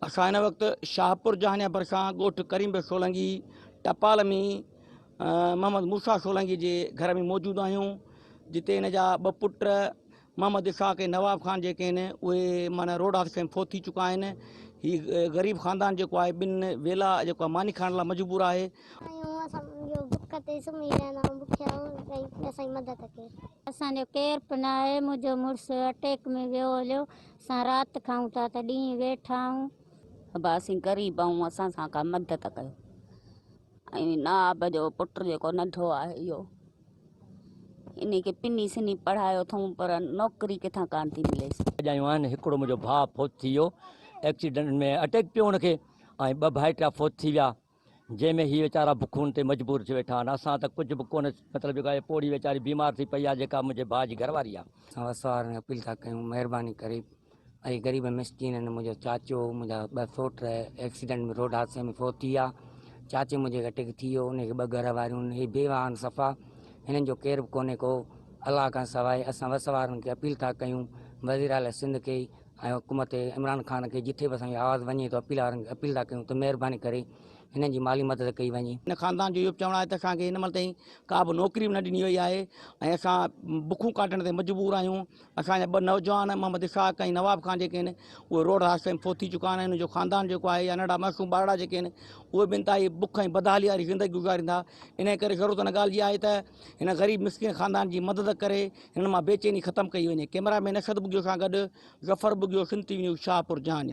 اسان هن وقت شاهپور جهانيان ڀرسان ڳوٺ ڪريم بيگ سولنگي ٽپال ۾ محمد موسيٰ سولنگي جي گهر ۾ موجود آهيون جتي هن جا ٻه پٽ محمد اسحاق ۽ نواب خان جيڪي آهن اهي معنيٰ روڊ حادثي ۾ فوت ٿي چڪا آهن هي غريب خاندان جيڪو آهي ٻن ويلا جيڪو آهي ماني کائڻ لاء مجبور آهي اسان جو بک تي سمهي رهندا آهيون بکيا ۽ اسان جي مدد ڪري اسان جو ڪير به ناهي. منهنجو مڙس اٽيڪ ۾ ويو هليو. اسان رات کائون ٿا ته ڏينهن ويٺا آهون. ابا اسين غريب آهيون اسان سان ڪا مدد ڪيو ۽ نواب جو پٽ جيڪو ننڍو آهي اهو انهي کي پني سني پڙهايو اٿئون پر نوڪري ڪٿان ڪانه ٿي مليس. ڀڄايون آهن هڪڙو منهنجو ڀاء فوت ٿي ويو ايڪسيڊنٽ ۾ اٽيڪ پيو ان کي ۽ ٻه ڀائٽيا فوت ٿي ويا جنهن ۾ هي ويچارا بکون تي مجبور ٿي ويٺا آهن. اسان ته ڪجهه به ڪونه مطلب جيڪو آهي پوڙهي ويچاري بيمار ٿي پئي آهي جيڪا منهنجي ڀاء جي گهرواري آهي. اسان وس وارن کي اپيل ٿا ڪيون مهرباني ڪري اهي غريب مسڪين آهن منهنجو چاچو منهنجا ٻه سوٽ ايڪسيڊنٽ ۾ روڊ حادثي ۾ فوت ٿي ويا چاچي منهنجي کي اٽيڪ ٿي ويو ان کي ٻه گهر واريون هي بيواهه آهن صفا هنن جو ڪير به ڪونهي ڪو الله کان سواء اسان وس وارن کي اپيل ٿا ڪيون وزيراعليٰ سنڌ کي ۽ حڪومت عمران خان کي جتي به اسان جي آواز وڃي ته اپيل وارن اپيل ٿا ڪيون ته مهرباني ڪري هنن جي مالي مدد ڪئي وڃي. هن خاندان جو اهو به چوڻ آهي ته اسان کي هن مهل تائين ڪا به نوڪري به نه ڏني وئي آهي ۽ اسان بکون ڪاٽڻ تي مجبور آهيون، اسان جا ٻه نوجوان محمد اسحاق ۽ نواب خان جيڪي آهن اهي روڊ حادثي ۾ فوت ٿي چڪا آهن ۽ انهن جو خاندان جيڪو آهي يا ننڍڙا معصوم ٻارڙا جيڪي آهن اهي به انتهائي بک ۽ بدحالي واري زندگي گذارين ٿا، انهيء ڪري ضرورت ان ڳالهه جي آهي ته هن غريب مسڪين خاندان جي مدد ڪري هن مان بيچيني ختم ڪئي وڃي. ڪئميرا مين اسد بگيو سان گڏ Zafar Bughio, Sindh T V news, Shahpur Jhaniyan.